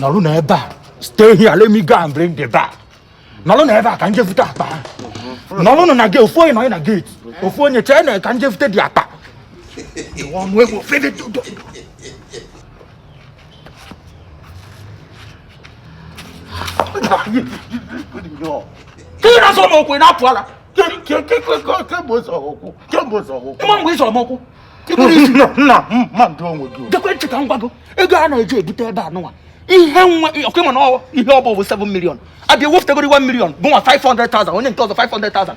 nọrọ na ebe a stay here let me go and bring the bag nọrọ na ebe a ka m je vute akpa nọrọnụ na gate ofu onye nọ na gate ofu onye chee na ka m je vute the akpa Ka ị na-azọ m ụkwụ na-apụ ala. Kemgbe ụzọ okwu. Kemgbe ụzọ okwu. Ịma mgbe ị zọ m ụkwụ. Nna nna mind onwe gị. Gekwe ntị ka m gwa gị ego a na-eji ebute ebe a nụwa. Ihe nwa ọ kwa ịma na ihe ọ bụ bụ 7 million. Abịa wepụtagoro 1 million mụ nwa 500,000 onye nke ọzọ 500,000.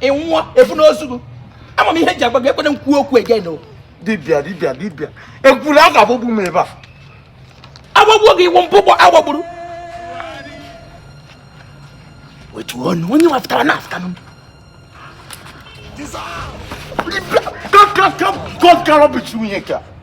ị nwụọ efu n'ozu gị ama m ihe ji agwa gị ekwena m kwuo okwu again o dibịa dibịa dibịa ekwuru a ga-agbagbu m ebe a agbagbuo gị ị wụ mbụ gbọ a gbagburu wetuo ọnụ onye nwapụtara na-afụta m dibịa ka ka ka ka ka rọbichi nwunye ka